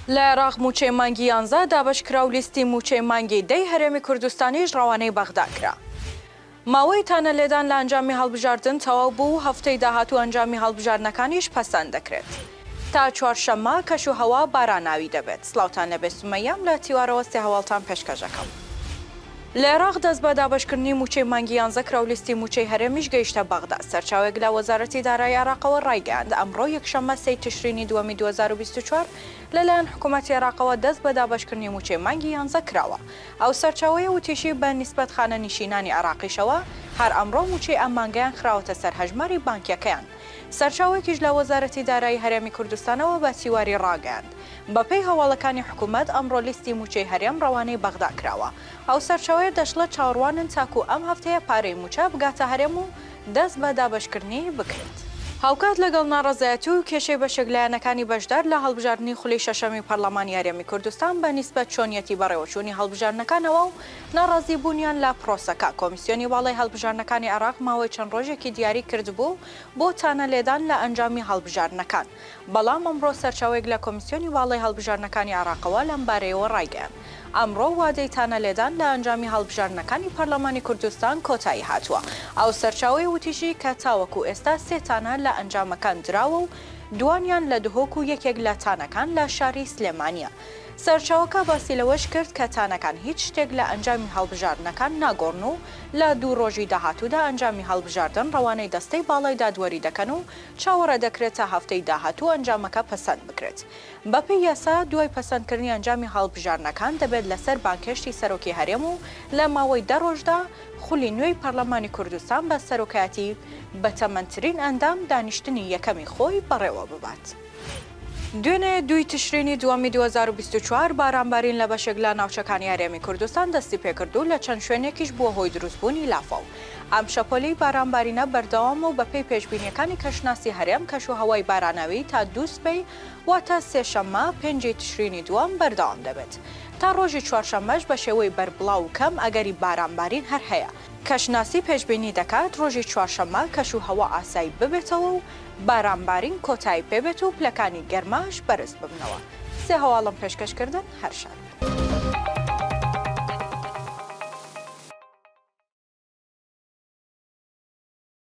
لە عێراق مووچەی مانگی یانزە دابەشکرا و لیستی مووچەی مانگی دەی هەرێمی کوردستانیش ڕەوانەی بەغدا کرا. ماوەی تانە لێدان لە ئەنجامی هەڵبژاردن تەواو بوو و هەفتەی داهاتوو ئەنجامی هەڵبژاردنەکانیش پەسەند دەکرێت. تا چوارشەممە کەش و هەوا باراناوی دەبێت. سڵاوتان لێبێ سومەییەم لە تیوارەوە سێ هەواڵتان پێشکەش ئەکەم. لە عێراق دەست بە دابەشکردنی مووچەی مانگی یانزە کرا و لیستی مووچەی هەرێمیش گەیشتە بەغدا. سەرچاوێک لە وەزارەتی دارایی عێراقەوە ڕایگەیاند، ئەمڕۆ یەکشەممە سێی تشرینی دووەمی دوو هەزار و بیست و چوار لەلایەن حکوومەتی عێراقەوە دەست بە دابەشکردنی مووچەی مانگی یانزە کراوە. ئەو سەرچاوەیە وتیشی، بە نیسبەت خانەنیشینانی عێراقیشەوە هەر ئەمڕۆ مووچەی ئەم مانگەیان خراوەتە سەر هەژماری بانکییەکەیان. سەرچاوەیەکیش لە وەزارەتی دارایی هەرێمی کوردستانەوە بە تیواری ڕاگەیاند، بەپێی هەواڵەکانی حکوومەت ئەمڕۆ لیستی مووچەی هەرێم ڕەوانەی بەغدا کراوە. ئەو سەرچاوەیە دەشڵێت، چاوەڕوانن تاکوو ئەم هەفتەیە پارەی مووچە بگاتە هەرێم و دەست بە دابەشکردنی بکرێت. هاوکات لەگەڵ ناڕەزایەتی و کێشەی بەشێک لایەنەکانی بەشدار لە هەڵبژاردنی خولی شەشەمی پەرلەمانی هەرێمی کوردستان بە نیسبەت چۆنیەتی بەڕێوەچوونی هەڵبژاردنەکانەوە و ناڕازیبوونیان لە پرۆسەکە، کۆمیسیۆنی باڵای هەڵبژاردنەکانی عێراق ماوەی چەند ڕۆژێکی دیاری کردبوو بۆ تانە لێدان لە ئەنجامی هەڵبژاردنەکان، بەڵام ئەمڕۆ سەرچاوەیەک لە کۆمیسیۆنی باڵای هەڵبژاردنەکانی عێراقەوە لەمبارەیەوە ڕایگەیاند، ئەمڕۆ وادەی تانە لێدان لە ئەنجامی هەڵبژاردنەکانی پەرلەمانی کوردستان کۆتایی هاتووە. ئەو سەرچاوەیە وتیشی کە تاوەکو ئێستا سێ تانە لە ئەنجامەکان دراوە و دووانیان لە دهۆک و یەکێک لە تانەکان لە شاری سلێمانییە. سەرچاوەکە باسی لەوەش کرد کە تانەکان هیچ شتێک لە ئەنجامی هەڵبژاردنەکان ناگۆڕن و لە دوو ڕۆژی داهاتوودا ئەنجامی هەڵبژاردن ڕەوانەی دەستەی باڵای دادوەری دەکەن و چاوەڕێدەکرێت تا هەفتەی داهاتوو ئەنجامەکە پەسەند بکرێت. بەپێی یاسا دوای پەسەندکردنی ئەنجامی هەڵبژاردنەکان دەبێت لەسەر بانگهێشتی سەرۆکی هەرێم و لە ماوەی دە ڕۆژدا خولی نوێی پەرلەمانی کوردستان بە سەرۆکایەتی بەتەمەنترین ئەندام دانیشتنی یەکەمی خۆی بەڕێوەببات. دوێنێ دووی تشرینی دووەمی دوو هەزار و بیست و چوار بارانبارین لە بەشێک لە ناوچەکانی هەرێمی کوردستان دەستی پێکرد و لە چەند شوێنێکیش بووە هۆی دروستبوونی لافاو. ئەم شەپۆلەی بارانبارینە بەردەوامە و بەپێی پێشبینییەکانی کەشناسی هەرێم کەشوهەوای باراناوی تا دوو سبەی واتە سێشەممە پێنج ی تشرینی دووەم بەردەوام دەبێت. تا ڕۆژی چوارشەممەش بە شێوەی بەربڵاو و کەم ئەگەری بارانبارین هەر هەیە. کەشناسی پێشبینی دەکات ڕۆژی چوارشەممە کەشوهەوا ئاسایی ببێتەوە و بارانبارین کۆتایی پێبێت و پلەکانی گەرماش بەرز ببنەوە سێ هەواڵم پێشکەش کردن هەر شاد بن.